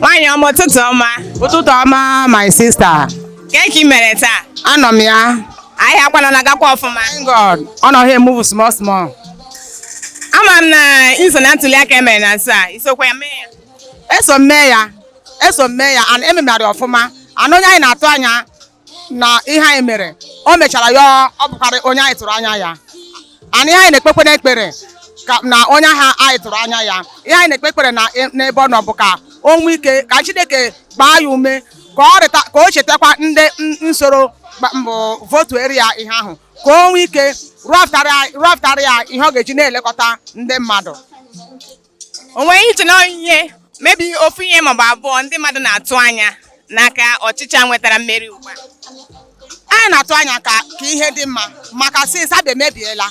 Nwaanyị ọma ụtụtụ ọma. Ụtụtụ ọma my sister. Kee ka i mere taa? Anọ m ya. Ahịa a kwanụ ọ na-agakwa ọfụma. Thank God. Ọ na-e move small small. Ama m na i so na ntuli aka emere na nso a, i sokwa ya mee ya. Eso m mee ya. Eso m mee ya and ememere ọfụma. And onye anyị na-atụ anya na ihe anyị mere o mechara ya ọ bụkarị onye anyị tụrụ anya ya and ihe anyị na-ekpekwa n'ekpere ka na onye ahụ anyị tụrụ anya ya ihe anyị na-ekpe ekpere na e, n'ebe ọ nọ bụ ka o nwee ike ka Chineke gbaa ya ume ka ọ rịta ka o chetakwa ndị soro mbụ votuere ya ihe ahụ ka o nwee ike rụpụtara ya ihe ọ ga-eji na-elekọta ndị mmadụ o nwere ihe i chere na ọ ihe maybe ofu ihe maọbụ abụọ ndị mmadụ na-atụ anya n'aka ọchịchị a nwetara mmeri ugbu a anyị na-atụ anya ka ka ihe dị mma maka since Abịa emebiela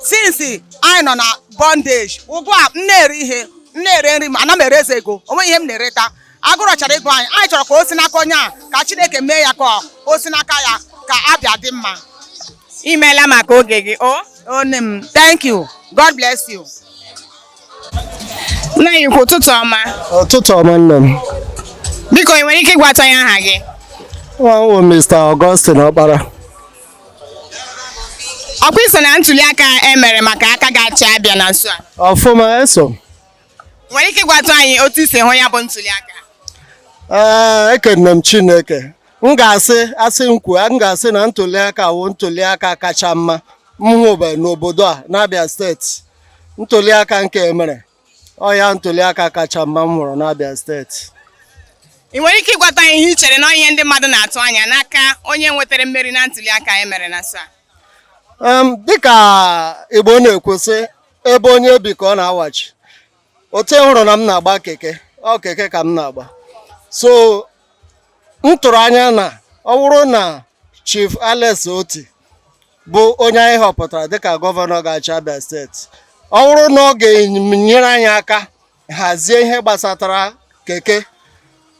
since anyị nọ na bondage ugbu a m na-ere ihe m na-ere nri ma anaghị m ere ezi ego o nweghị ihe m na-ereta agụrụ chọrọ igbu anyị anyị chọrọ ka o si n'aka onye a ka Chineke mee ya ka o si n'aka ya ka Abịa dị mma imeela maka oge gị oo nne m thank you God bless you nna anyị ukwu ụtụtụ ọma ụtụtụ ọma nne m biko ị nwere ike ịgwatụ anyị aha gị aha m wụ Mr. Augustine Ọkpara ọ kwa i so na ntuli aka emere maka aka ga-achị Abịa na nso a ọfụma eso nwere ike ịgwatụ anyị otu i si hụ ya bụ ntuli aka ee ekene m chineke m ga-asị a sị m kwuo m ga-asị na ntuliaka wụ ntuliaka kacha mma m hụbe n'obodo a n'abịa steeti ntuliaka nke emere ọ ya ntuliaka kacha mma m hụrụ n'abịa steeti ị nwere ike ịgwatụ anyị ihe i chere na ọ ihe ndị mmadụ na-atụ anya n'aka onye nwetara mmeri na ntuli aka e mere na nso a Em, dịka igbo na-ekwu sị ebe onye bi ka ọ na-awachi otu ị hụrụ na m na-agba keke ọ keke ka m na-agba so m tụrụ anya na ọ bụrụ na Chief Alex Otti bụ onye anyị họpụtara dịka gọvanọ ga-achị Abia steeti ọ bụrụ na ọ ga-enyere anyị aka hazie ihe gbasatara keke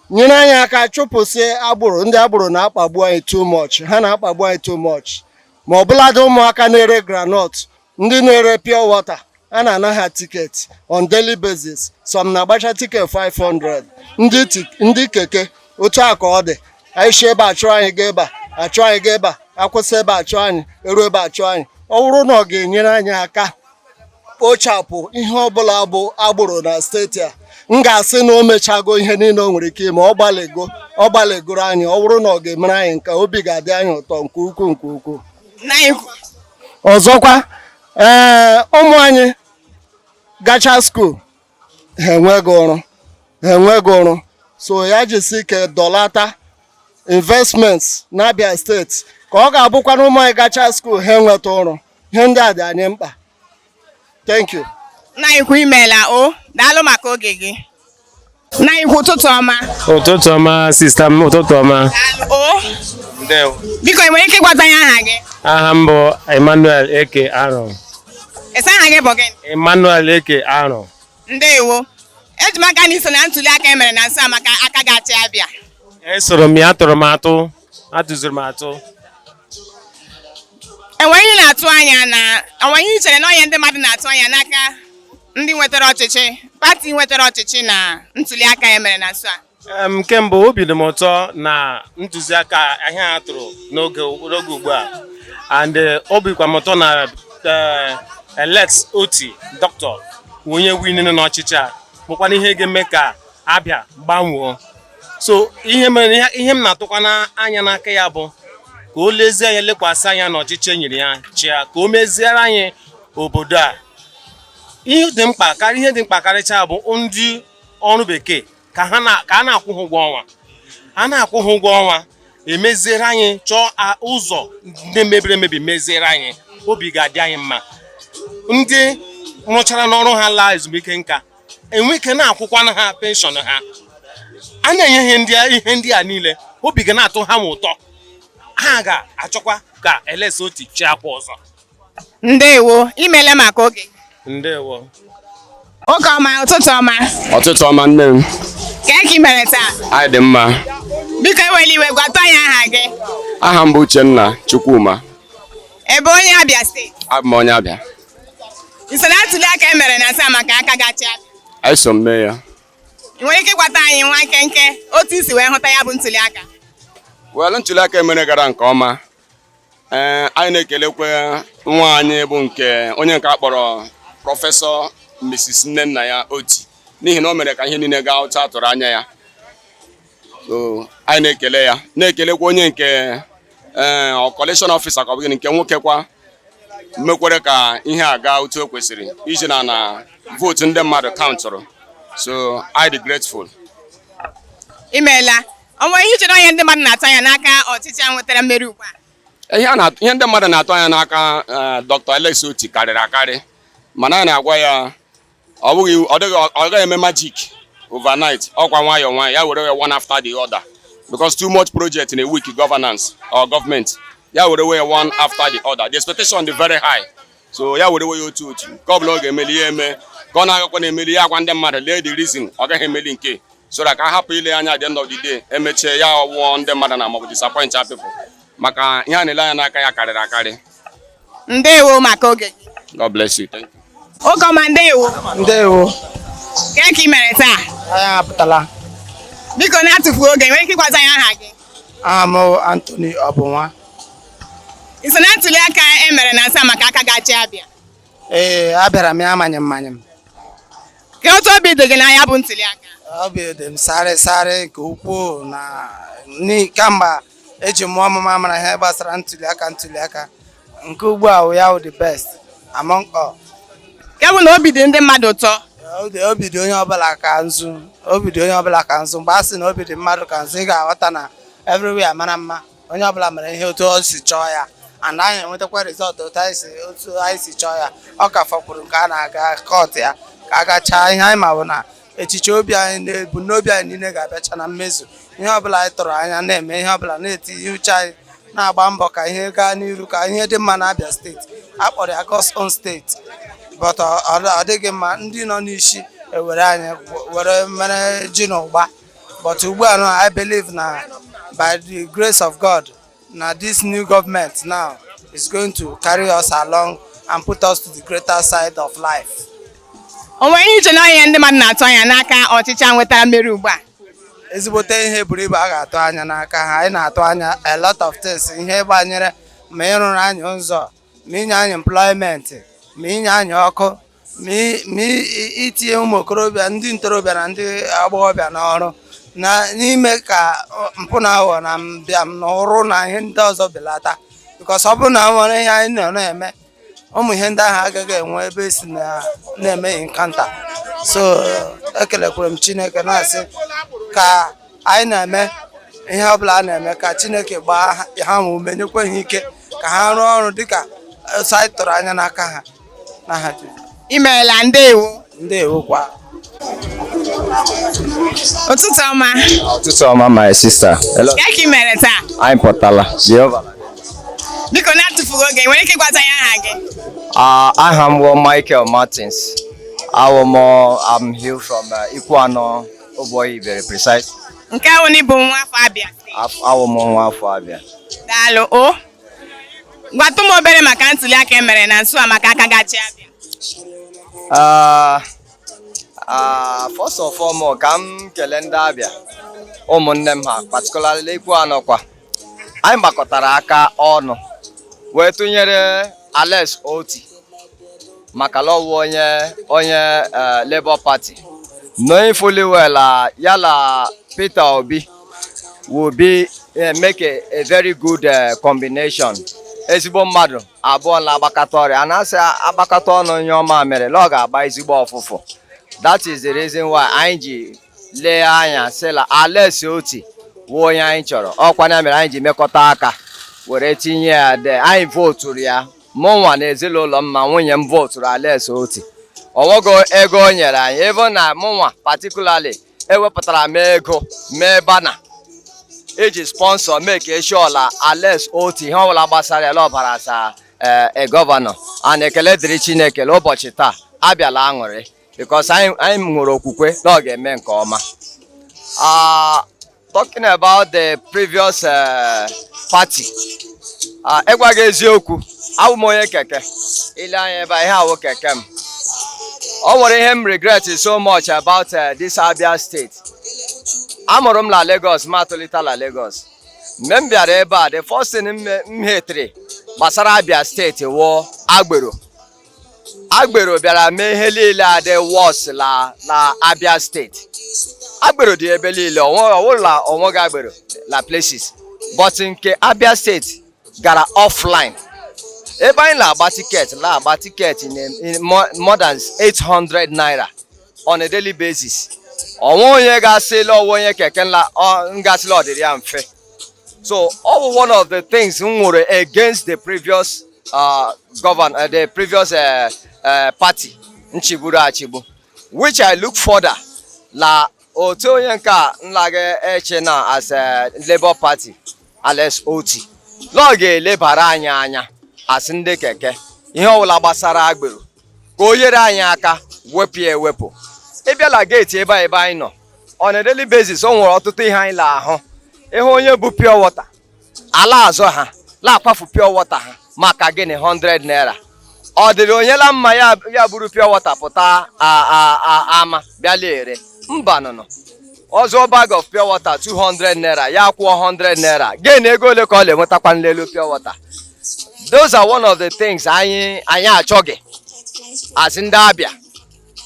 nyere anyị aka chụpụsịa agboro ndị agboro na-akpagbu anyị too much ha na-akpagbu anyị too much ma ọ bụladị ụmụaka na-ere granọt ndị na-ere pure water a na-ana ha tiketi on daily basis some na-agbacha tiket 500 ndị keke otu a ka ọ dị anyị si ebe a chụọ anyị ga ebe a a chụọ anyị ga ebe a akwụsị ebe a chụọ anyị eru ebe a chụọ anyị ọ bụrụ na ọ ga-enyere anyị aka kpochapụ ihe ọbụla bụ agboro na steeti a m ga-asị na o mechago ihe niile o nwere ike ime ọ gbalịgo ọ gbalịgoro anyị ọ bụrụ na ọ ga-emere anyị nke a obi ga-adị anyị ụtọ nke ukwuu nke ukwuu ọzọkwa ee eh, ụmụ anyị gacha skuul ha enweghị ọrụ ha enweghị ọrụ so ya jisi ike dọlata investment n'Abia steeti ka ọ ga-abụkwa na ụmụ anyị gacha skuul ha enweta ọrụ ihe ndị a dị anyị mkpa thank you nna anyị ukwu imeela o daalụ maka oge gị nna anyị ukwu ụtụtụ ọma ụtụtụ ọma sista m ụtụtụ ọma daalụ o ndewo biko ị nwere ike ịgwata anyị aha gị aha m bụ emmanuel eke arọ ị sị aha gị bụ gịnị emmanuel eke arọ ndewo eji m aka na i so na ntuli aka e mere na nso a maka aka ga-achị abịa esoro m ya atụrụ m atụ atụziri m atụ o nwe ihe ị na-atụ anya na o nwe ihe i chere na onye ndị mmadụ na-atụ anya n'aka ndị nwetara ọchịchị pati nwetara ọchịchị na ntuli aka e mere na nso a Em, nke mbụ obi dị m ụtọ na ntụziaka ahụ a tụrụ n'oge n'oge ugbu a and eh, obi kwa m ụtọ na eh, Alex Otti doctor wụ onye winere n'ọchịchị a bụkwana ihe ga-eme ka abịa gbanwoo so ihe mere ihe m na-atụkwa n'anya n'aka ya bụ ka o lezie anya lekwasị anya n'ọchịchị e nyere ya chịa ka o meziere anyị obodo a ihe dị mkpa karịa ihe dị mkpa karịcha bụ ndị ọrụ bekee ka a na-akwụ ha ụgwọ ọnwa a na-akwụ ha ụgwọ ọnwa e meziere anyị chọọ ụzọ ndị mebiri emebi meziere anyị obi ga-adị anyị mma ndị rụchara n'ọrụ ha laa ezumike nka e nwee ike na-akwụkwana ha penshọn ha a na-enye ihe ndị a- ihe ndị a niile obi ga na-atọ ha ma ụtọ ha ga-achọkwa ka Alex Otti chịakwa ọzọ ndewo imeela maka oge ndewo oge ọma ụtụtụ ọma ụtụtụ ọma nne m kee ka i mere taa anyị dị mma biko ewela iwe gwata anyị aha gị aha m bụ uchenna chukwuma ị bụ onye abịa steeti abụ m onye abịa na ntuli aka e mere na nso a maka aka ga-achị abịa anyị so mee ya ị nwere ike ịgwata anyị nwa nkenke otu i si wee hụta ya bụ ntuli aka well ntuli aka e mere gara nke ọma ee eh, anyị na-ekelekwa nwaanyị bụ nke onye nke a kpọrọ prọfesọ Mrs. Nnennaya Oti n'ihi na o mere ka ihe niile gaa otu a tụrụ anya ya so anyị na-ekele ya na-ekelekwa onye nke ee eh, collation officer nke bụ nke nwoke kwa mekwara ka ihe a gaa otu o kwesịrị iji na na vootu ndị mmadụ kaụntụrụ so anyị dị grateful imeela o nwe ihe i chere onye ndị mmadụ na-atụ anya n'aka ọchịchị a nwetara mmeri ugbu a ihe ndị mmadụ na-atụ anya n'aka eh, Dr. Alex Otti karịrị akarị mana anyị na-agwa ya ọ bụghị ọ dịghị ọ gaghị eme magic overnight ọkwa nwayọọ nwayọọ ya were one after the other because too much project in a weak governance or government ya were wee one after the other the expectation dị very high so ya were wee otu otu nke ọbụla ọ ga-emeli ya eme nke ọ na-agaghịkwanụ emeli ya agwa ndị mmadụ lee the reason ọ gaghị emeli nke so that ka a hapụ ile anya at the end of the day emechie ya ọwụọ ndị mmadụ na maọbụ disappoint people maka ihe a na-ele anya n'aka ya karịrị akarị ndewo maka oge gị God bless you. Thank you. oge ọma ndewo ndewo kee ka ị mere taa anyị apụtala biko na-atụfughị oge i nwere ike ịgwazi anyị aha gị aha m bụ Anthony Ọbụnwa i so na ntuli aka e mere na nso a maka aka ga-achị Abịa ee abịara m ya amanye mmanye m kee otu obi dị gị na ya bụ ntuli aka obi dị m sarị sarị nke ukwuu na ni- kamgbe eji mụọ m mụ amara ihe gbasara ntuli aka ntuli aka nke ugbu a ya wụ the best among all nke bụ na obi dị ndị mmadụ ụtọ obi dị onye ọbụla ka nzu obi dị onye ọbụla ka nzu mgbe a sị na obi dị mmadụ ka nzu ị ga-aghọta na everywhere mara mma onye ọbụla mere ihe otu o si chọọ ya and anyị enwetakwa result otu anyị si chọọ ya ọ ka fọkwuru nke a na-aga court ya ka a gachaa ihe anyị ma bụ na echiche obi anyị na ebumnobi anyị niile ga-abịacha na mmezu ihe ọbụla anyị tụrụ anya na-eme ihe ọbụla na-etinye uche anyị na-agba mbọ ka ihe gaa n'iru ka ihe dị mma n'Abia steeti a kpọrọ ya God's own State but ọ dịghị mma ndị nọ n'ishi ewere anyị were mere ji na ụgba but ugbu a na I believe na by the grace of God na this new government now is going to carry us along and put us to the greater side of life. o nwere ihe i che na ihe ndị mmadụ na-atụ anya n'aka ọchịchị a nwetara mmeri ugbu a ezigbote ihe buru ibu a ga-atụ anya n'aka ha anyị na-atụ anya a lot of things ihe gbanyere ma ịrụrụ anyị ụzọ ma inye anyị employment ma inye anyị ọkụ ma itinye ụmụ okorobịa ndị ntorobịa na ndị agbọghọbịa n'ọrụ na ime ka mpụ na aghụghọ na mbịam na ụrụ na ihe ndị ọzọ belata because ọ bụrụ na e nwere ihe anyị nọ na-eme ụmụ ihe ndị ahụ agaghị enwe ebe esi na-eme encounter so ekelekwere m chineke na-asị ka anyị na-eme ihe ọbụla a na-eme ka chineke gbaa ha ume nyekwa ha ike ka ha rụọ ọrụ dịka e si tụrụ anya n'aka ha imeela ndewo ndewo kwa ụtụtụ ọma ụtụtụ ọma my sister olee ka ị mere taa anyị pụtala jehova biko na-atụfughị oge i nwere ike ịgwatụ anyị aha gị ah, aha m bụ Michael Martins awụ m am here from uh, Ikwuano Obuohia Ibere precise nke ahụ na ị bụ nwa afọ Abịa awụ m nwa afọ Abịa daalụ o gwatụ m obere maka ntuli aka e mere na nso a maka aka ga-achị Abịa ah, ah, first of all ka m kelee ndị Abịa ụmụnne m ha particularly Ikwuano kwa anyị gbakọtara aka ọnụ wee tụnyere Alex Otti maka la ọ wụ onye onye eh, Labour Party knowing fully well ah, ya la Peter Obi will be uh, make a, a very good uh, combination ezigbo mmadụ abụọ na-agbakọta ọrụ a na-asị agbakọta ọnụ nyụọ mamịrị na ọ ga-agba ezigbo ụfụfụ that is the reason why anyị ji lee anya sị la Alex Otti wụ onye anyị chọrọ ọ kwa ya mere anyị ji mekọta aka were tinye ya and anyị voturu ya mụ nwa na ezinụlọ m ma nwunye m voturu Alex Otti o nweghị ego o nyere anyị even mụnwa particularly ewepụtara m ego mee banner iji sponsor make sure la Alex Otti ihe ọbụla gbasara ya ọ bara as a eh, governor and ekele dịrị Chineke la ụbọchị taa Abịa la-aṅụrị because anyị nwere okwukwe na ọ ga-eme nke ọma ah, Talking about the previous uh, party. Uh, ịgwa gị eziokwu, awụ m onye keke. I lee anya ebe a, ihe a wụ keke m. O nwere ihe m regret so much about uh, this Abia state. Amụrụ m na Lagos, ma tolita na Lagos. Mgbe m bịara ebe a, the first thing m me- m hetere gbasara Abia steeti wụ agbero. agbero bịara mee ihe niile adị worse na na Abia steeti agbero dị ebe niile ọ wụ la o nweghị agbero na places but nke Abia steeti gara offline ebe anyị na-agba tiketi na-agba tiketi more than 800 naira on a daily basis o nweghị onye ga-asị la ọ wụ onye keke nla ga-asị la ọ dịrị ya mfe so ọ bụ one of the things m nwere against the previous uh, govern uh, the previous uh, uh, party nchịgburu achịgbu which I look further na otu onye nke a nla ga-achị na as a Labour Party Alex Otti na ọ ga-elebara anyị anya as ndị keke ihe ọbụla gbasara agbero ka o nyere anyị aka wepụ ya ewepụ ị bịa la geeti ebe a ebe anyị nọ on a daily basis o nwere ọtụtụ ihe anyị na-ahụ ị hụ onye bu pure water a la-azọ ha na-akwafu pure water ha maka gịnị 100 naira ọ dịrị onye la mma ya ya buru pure water pụta a- a- a- ama bịa la-ere mba n'ọnụ ụzọ bag of pure water 200 naira ya kwụọ 100 naira gịnị ego ole ka ọ na-enwetakwa n'elu pure water those are one of the things anyị anyị achọghị as ndị Abịa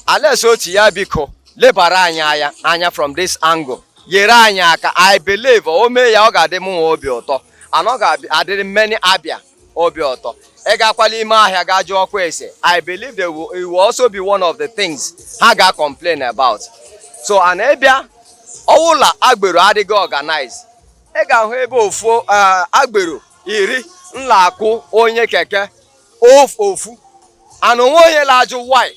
Alex Otti ya biko lebara anyị anya from this angle yere anyị aka I believe o mee ya ọ ga-adị m nwa obi ụtọ and ọ ga-adịrị many abịa obi ụtọ ị gakwa la ime ahịa ga jụọkwa ese I believe they will, it will also be one of the things ha ga complain about so and ị bịa ọ wụ la agbero adịghị organize ị ga-ahụ ebe ofu eh, agbero iri la-akụ onye keke ofu ofu and o nweghị onye na-ajụ why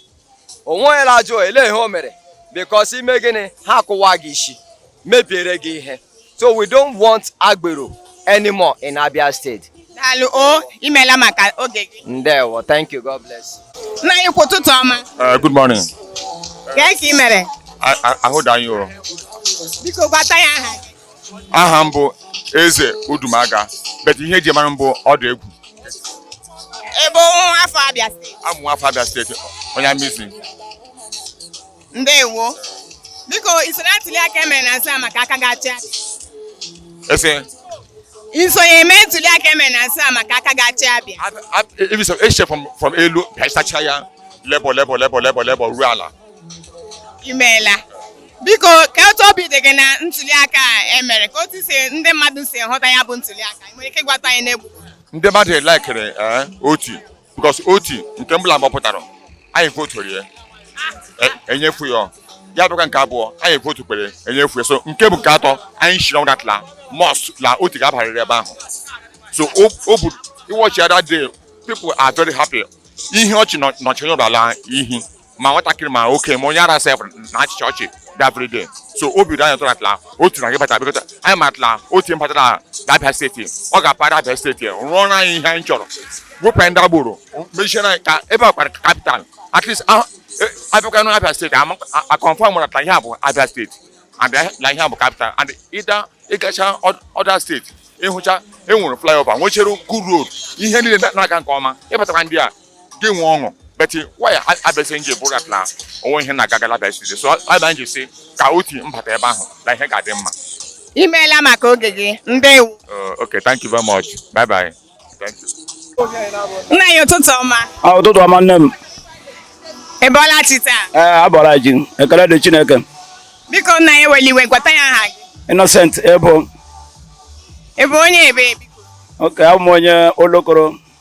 o nweghị onye na-ajụ ele ihe o mere because ị mee gịnị ha akụwa gị isi mebiere gị ihe so we don't want agbero anymore in Abia State daalụ o imeela maka oge gị ndewo thank you god bless nna anyị ukwu ụtụtụ ọma eh, good morning kee ka ị mere ahụ dị anyị o biko gwatụ anyị aha aha m bụ eze udumaga but ihe e ji mara m bụ odogwu ị bụ nwa afọ abịa steeti abụ m nwa afọ abịa steeti onye Amizi ndewo biko i soro ntuli aka e mere na nso a maka aka ga-achị ese i sonyere mee ntuli aka e mere na nso a maka aka ga-achị abịa echefọ m from elu bịa sacha ya Labour Labour Labour Labour Labour ruo ala imeela biko kee otu obi dị gị na ntuli aka a e mere kee otu si ndị mmadụ si hụta ya bụ ntuli aka i nwere ike ịgwatụ anyị n'egwu ndị mmadụ le-ekiri eh, Otti because Otti nke mbụ la ọ gbapụtara anyị voturu ya e, enyefu ya ya bụkwa nke abụọ anyị votukwara enyefu ya so nke a bụ nke atọ anyị shiri ọnwụ that la must la Otti ga-abarịrị ebe ahụ so ọ bụ ị watchia that day people are very happy ihe ọchị nọchiri ụlọ ala ihi ma nwatakịrị ma oke ma onye ara sef na-achịcha ọchị that very day so obi dị anyị ụtọ that la Otti na-aga ịbata because anyị ma that la Otti bata na abịa steeti ọ ga-apara abịa steeti rụọrọ anyị ihe anyị chọrọ wepụ anyị ndị agbero mechie na ka ebe a kpọrọ capital at least e, a bịakwa na abịa steeti a confirmụrụ that la ihe a bụ abịa steeti and na ihe a bụ capital and ịda ị gacha other steeti ị hụcha e nwere flyover nwechere good road ihe niile na-aga nke ọma ị batakwa ndị a gị enwee ọṅụ but why abịa steeti ji bụrụ that na o nweghị ihe na-aga aga la abịa steeti so ebe anyị ji sị ka Otti bata ebe ahụ na ihe ga-adị mma imeela maka oge gị ndewo uh, okay thank you very much bye bye thank you nna anyị ụtụtụ ọma ah, ụtụtụ ọma nne m ị bọọla chi taa ee eh, abọọla m chi ekele dị chineke biko nna anyị ewela iwe gwatụ anyị aha gị innocent ebo ị bụ onye ebee biko okay abụ m onye Olokoro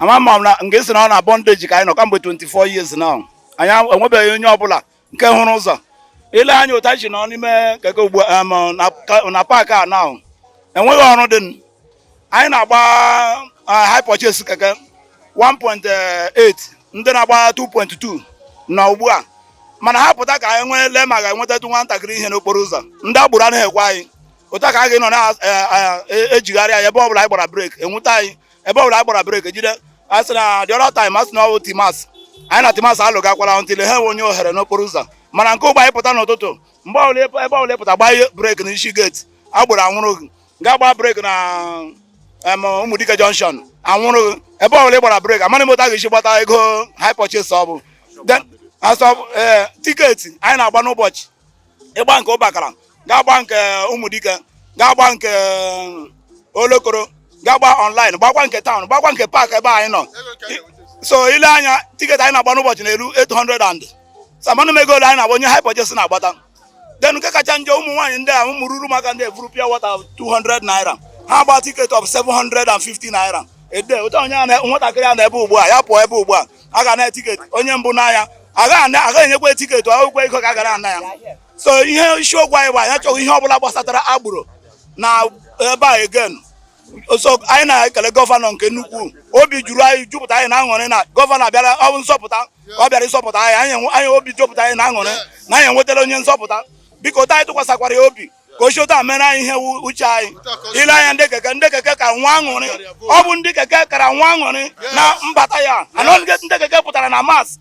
ama ma m ga-asị na ọ na bondage ka anyị nọ kamgbe 24 years now anyị enwebeghị onye ọbụla nke hụrụ ụzọ i lee anya otu anyị ji nọ n'ime keke ugbu um, na paakị a now enweghị ọrụ dị anyị na-agba uh, hire purchase keke 1.8 ndị na-agba 2.2 na ugbu a mana ha pụta ka anyị nwee lee ma ga-enwetatụ nwatakịrị ihe n'okporo ụzọ ndị agboro anaghị ekwe anyị otu a ka a ga-anọ na-ejigharị eh, eh, eh, anyị ebe ọ bụla anyị gbara breki anwụta anyị ebe ọbụla ị gbara breki jide a sị na the other time a sị na ọwụ TIMASS anyị na TIMASS alụgakwara until ha ewee nye ohere n'okporo ụzọ mana nke ugbu a anyị pụta n'ụtụtụ mgbe ọbụla ebe ebe ọbụla ị pụta gbaa breki na isi gate agboro anwụrụ gị gaa gbaa breki na em, ụmụdike junction anwụrụ gị ebe ọbụla ị gbara breki amaghị m otu a ga-esi gbata ego hire purchase ọ bụ Then, also ee tiketi anyị na-agba n'ụbọchị ị gba nke ubakala ga-agba nke ụmụdike ga-agba nke olokoro ga-agba online gbakwa nke town gbakwa nke paakị ebe anyị nọ so i lee anya tiketi anyị na-agba n'ụbọchị na-eru 800 and something ego ole anyị na-agba onye hire purchase na-agbata then nke kacha njọ ụmụ nwaanyị ndị a ụmụ ruru maka ndị eburu pure water 200 naira ha gba tiketi of 750 naira ede otu a onye nwatakịrị a na ebe ugbu a ya pụọ ebe ugbu a a ga-ana ya tiketi onye mbụ anaa ya agaghị enyekwa tiketi akwụkwọ ego ka a ga-ana ya so ihe isiokwu anyị bụ anyị achọghị ihe ọbụla gbasatara agboro na ebe a again so anyị na-ekele gọvanọ nke nnukwu obi juru anyị jupụta anyị na aṅụrị na gọvanọ abịara ọ bụ nzọpụta ọ bịara ịzọpụta anyị anyị obi jupụta anyị na aṅụrị na anyị enwetara onye nzọpụta biko otu anyị tụkwasịkwara ya obi ka o si otu a mere anyị ihe uche anyị i lee anya ndị keke ndị keke kara nwee aṅụrị ọ bụ ndị keke kara nwee aṅụrị na mbata ya na ndị keke pụtara na mass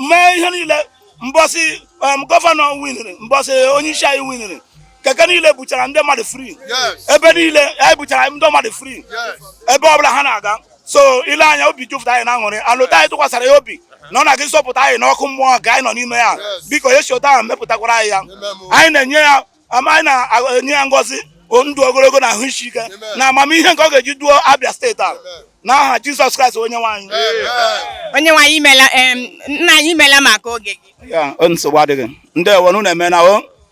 mee ihe niile mbọsị um, gọvanọ winiri mbọsị onye isi anyị winiri keke niile buchara ndị mmadụ free ebe niile anyị buchara ndị mmadụ free ebe ọbụla ha na-aga so i lee anya obi jupụta anyị na aṅụrị otu anyị tụkwasara ya obi na ọ na-aga ịzọpụta anyị n'ọkụ mmụọ nke anyị nọ n'ime ya biko ya si otu ahụ mepụtakwara anyị ya anyị na-enye ya ama anyị na-enye ya ngọzi ndụ ogologo na ahụ isi ike na amamihe nke ọ ga-eji duo Abia steeti a n'aha Jizọs Kraịst onyenwe anyị onyenwe anyị imela nna anyị imela maka oge gị nsogbu adịghị ndeewo unu emeena o